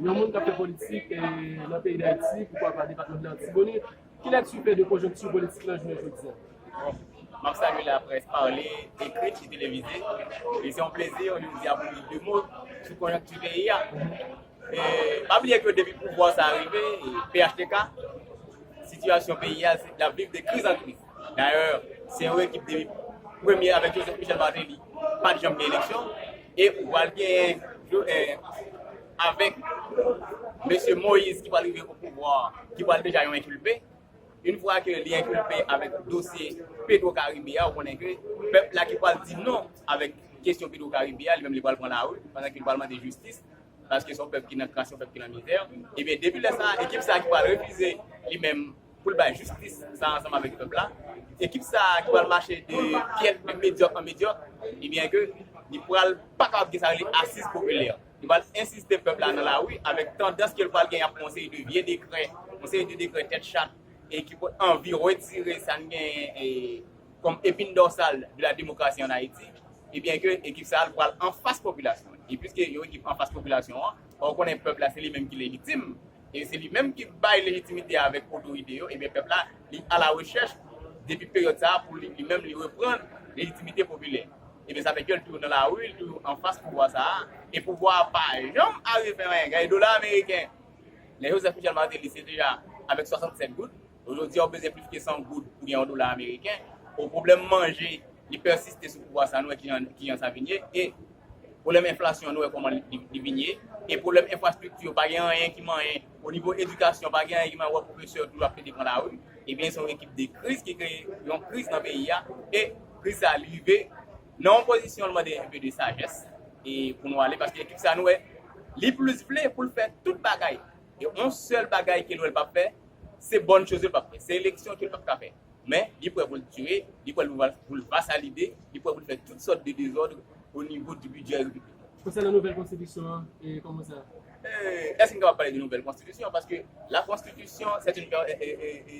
Yon moun k ap fè politik nan peyi Dayiti, poukwa pa depatman de l'Artibonite, ki lèkti w fè de konjonkti politik lan jounen jodi a? Bon, m ap salye laprès pale, ekrit e televize. E se yon plezi yon jou di a pou m di 2 mo sou konjonkti peyi a. E pa bliye ke depi pouvwa sa a rive, phtk, sitiyasyon peyi a se l ap viv de kriz an kriz. Dayè, se yon ekip depi premye avèk Joseph Michel Martelly pa t janm gen eleksyon. E ou pral genyen avèk mesye Moïse ki pral rive o pouvwa an, ki pral deja yon enkilpe. Yn fwa ke li enkilpe avèk dosye Petro Caribe a, ou konnen ke pèp la ki pral di non avèk kesyon Petro Caribe a, li menm li pral pran lari, pandan ke li pral mande jistis, paske se yon pèp ki nan kras, se yon pèp ki nan mizè. Ebyen depi lè sa a, ekip sa a ki pral refize li menm, pou l bay jistis sa ansanm avèk pèp la, ekip sa ki pral mache de pyèt, de medyòk an medyòk, ebyen ke li pral pa kapab gen sa yo rele asiz popilè. Li pral ensiste pèp la nan lari avèk tandans ke l pral gen yon seri de vye dekrè, yon seri de dekrè tèt chat e ki pot anvi retire sa n genyen kòm epin dòsal de la demokrasi an Ayiti, ebyen ke ekip sa l pral anfas popilasyon an. E piske yon ekip anfas popilasyon an, fò ou konnen pèp la se li menm ki lejitim, e se li menm ki bay lejitimite avèk otorite yo, ebyen pèp la li alawechèch depi peryòd sa a pou li li menm li reprann lejitimite popilè. Ebyen sa fè ke li toujou nan lari, li toujou anfas pouvwa sa a, e pouvwa a pa janm arive fè anyen. Gade dola ameriken, lè Joseph Michel Martelly se deja avèk 67 goud. Jodi a ou bezwen plis ke 100 goud pou gen yon dola ameriken, o pwoblèm manje li pèsiste sou pouvwa sa nou wè kijan sa vin ye, e pwoblèm enflasyon nou wè kòman li vin ye, e pwoblèm enfrastrikti yo pa gen anyen ki manyen, o nivo edikasyon pa gen anyen ki manyen ou wè pwofesè yo toujou ap plede pran lari, ebyen se yon ekip de kriz ki kreye yon kriz nan peyi a, e kriz sa li rive nan yon pozisyon li mande enpe de sajès e pou nou ale paske ekip sa nou wè li plis vle pou l fè tout bagay. Gen on sèl bagay ke lwèl pap fè, se bòn choz yo l pap fè, se eleksyon ke l pap ka fè. Men, li prè pou l tire, li prè pou l vasalide, li prè pou l fè tout sòt de dezòd o nivo di bidjè repiblik la. Konsènan nouvèl konstitisyon an, kòman sa? Èske m kapab pale de nouvèl konstitisyon? Paske la konstitisyon, sèt in, è, è, è, è.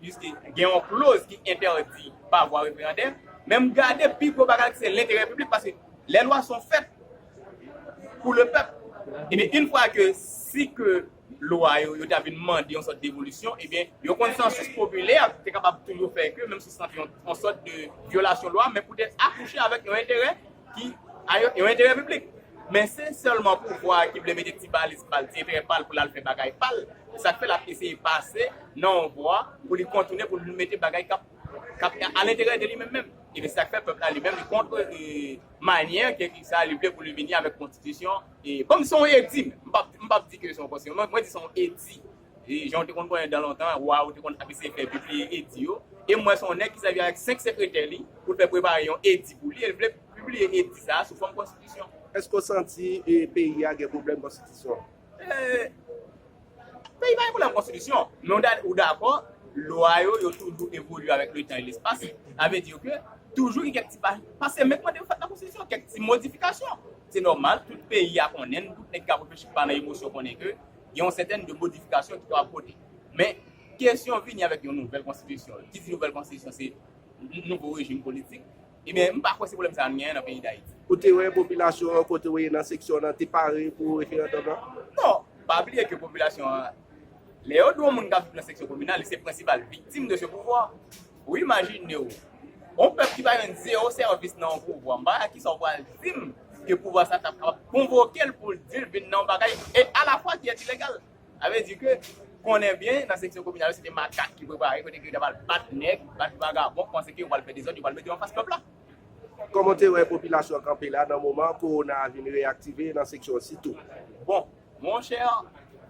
Piske gen yon kloz ki entèdi pa vwa referandè, men m gade pi gwo bagay ki se lenterè piblik paske lè lwa son fèt pou le pèp ebyen yn fwa ke si ke lwa yo yo ta vin mande yon sòt devolisyon ebyen yon konsansis popilè te kapab toujou fè ke menm si se yon sòt de vyolasyon lwa men poutèt akouche avèk yon enterè ki a yon enterè piblik. Men se sèlman pouvwa a ki vle mete ti baliz pa l, ti enterè pa l pou l al fè bagay pa l. Se sa k fè l ap eseye pase nan yon vwa pou li kontoune pou l mete bagay k ap a lenterè de li menm menm. Ebyen se sa k fè pèp la li menm li kontre manyè ke ki sa li vle pou li vini avèk konstitisyon. Kòm se yon edi menm, m pa di ke se yon konstitisyon, mwen di se yon edi. Jan w te konn konnen dan lontan, wa yo te konn ap eseye fè pibliye edi yo. E m wè se yon nèg ki sèvi avèk senk sekretè li pou l fè prepare yon edi pou li e l vle pibliye edi sa a sou fòm konstitisyon. Èske w santi peyi a gen pwoblèm konstitisyon? Peyi pa gen pwoblèm konstitisyon. Men ou dakò, lwa yo, yo toujou evolye avèk letan e lespas. Sa vle di ke toujou gen kèk ti pa, pa se menm mande yo fèt nan konstitisyon, kèk ti modifikasyon. Se nòmal, tout peyi a konnen, tout nèg ki ap reflechi ki pa nan emosyon konnen ke, gen yon sètèn de modifikasyon ki kapab pote. Men, kesyon vini avèk yon nouvèl konstitisyon, ki di nouvèl konstitisyon se nouvo rejim politik, ebyen m pa kwè se pwoblèm sa a n genyen nan peyi Dayiti. Ou te wè popilasyon an kote ou ye nan seksyon w lan te pare pou referandòm lan? Non. Pa bliye ke popilasyon an, lè yo di yon moun k ap viv nan seksyon kominal, li se prensipal viktim de se pouvwa. Ou imajine w yon pèp ki pa jwenn zewo sèvis nan yon pouvwa, m pa wè ak kisa w pral di m ke pouvwa sa tap kapab konvoke l pou l di l vin nan yon bagay e alafwa ki entilegal. Sa vle di ke konnen byen nan seksyon kominal yo se te makak ki prepare kote ke yo tap al bat nèg, bat vagabon, panse ke yo pral fè dezòd, yo pral mete yo anfas pèp la. Kòman w te wè popilasyon an kanpe la nan moman kowona a vin reyaktive nan seksyon an sitou? Bon, Mon cher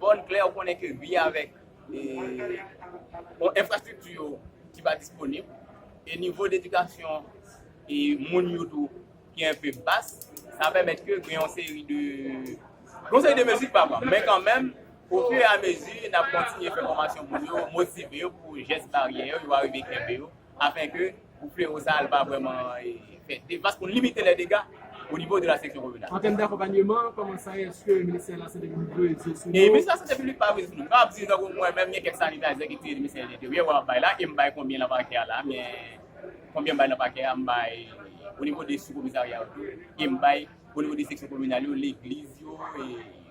bon klè ou konnen ke ui avèk yon enfrastrikti yo ki pa disponib e nivo dedikasyon e moun yo tou ki enpe bas sa pèmèt ke gen yon seri de gen yon seri de mezi ki pa pran men kanmenm o fur et à mesure nap kontinye fè fòmasyon moun yo motive yo pou jès baryè yo yo arive kenbe yo. Afin ke pou flewo sa a li pa vrèman fè devas pou n limite lè dega o nivo de la seksyon kominal. An tèm d'akonpanyeman, kòman sa ye eske Ministè Lasante Piblik dwe veye sou nou? Ministè Lasante Piblik pa veye sou nou. M kapab di tankou mwen menm gen kèk sanitayzè ki te Ministè Lenteryè wè m ap bay la e m bay konbyen nan pakè a la men konbyen m bay nan pakè a m bay o nivo de sou komisarya yo tou e m bay o nivo de seksyon kominal yo, legliz yo e.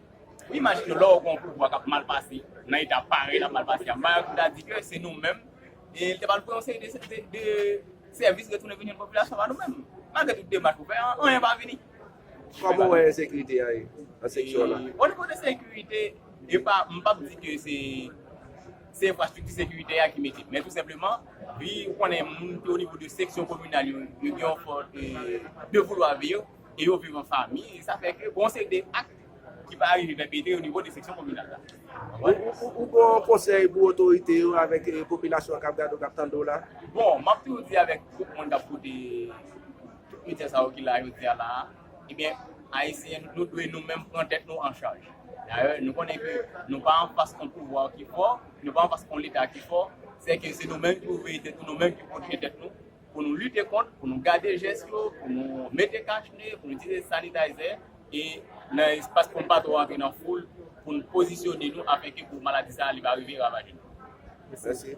Imajine lè w gen yon pouvwa k ap mal pase nan eta parèy l ap mal pase a. Mayòk m ta di ke se nou menm e l te pral pran yon seri de sèvis retounen vini popilasyon pa nou menm. Malgre tout demach pou fè, anyen pa vini. Kòman w wè ensekirite a ye nan seksyon w la? Onivo de sekirite, e pa, m pap di ke se se enfrastrikti sekirite a ki mete. Men tou senpleman, wi ou konnen moun ki onivo de seksyon kominal yo, yo gen yon fòm de voulwa veye. e yo viv an fanmi, sa fè ke bon se de ak ki pa arive pèpetre o nivo de seksyon kominal la. Ou gen yon konsèy pou otorite yo avèk popilasyon an k ap gade w, k ap tande w la? Bon, m ap toujou di avèk tout moun k ap koute tout medya sa yo ki la jodi a la a, ebyen Ayisyen nou dwe nou menm pran tèt nou an chaj. Dayè nou konnen ke nou pa an fas yon pouvwa ki fò, nou pa an fas yon leta ki fò, sèke se nou menm ki pou veye tèt nou, nou menm ki pou pwoteje tèt nou. Pou nou lite kont, pou nou gade jès yo, pou nou mete kach ne, pou nou itilize sanitayzè e nan espas pou nou pa twò antre nan foul pou nou pozisyone nou afenke pou maladi sa li pa rive ravaje nou. Mèsi.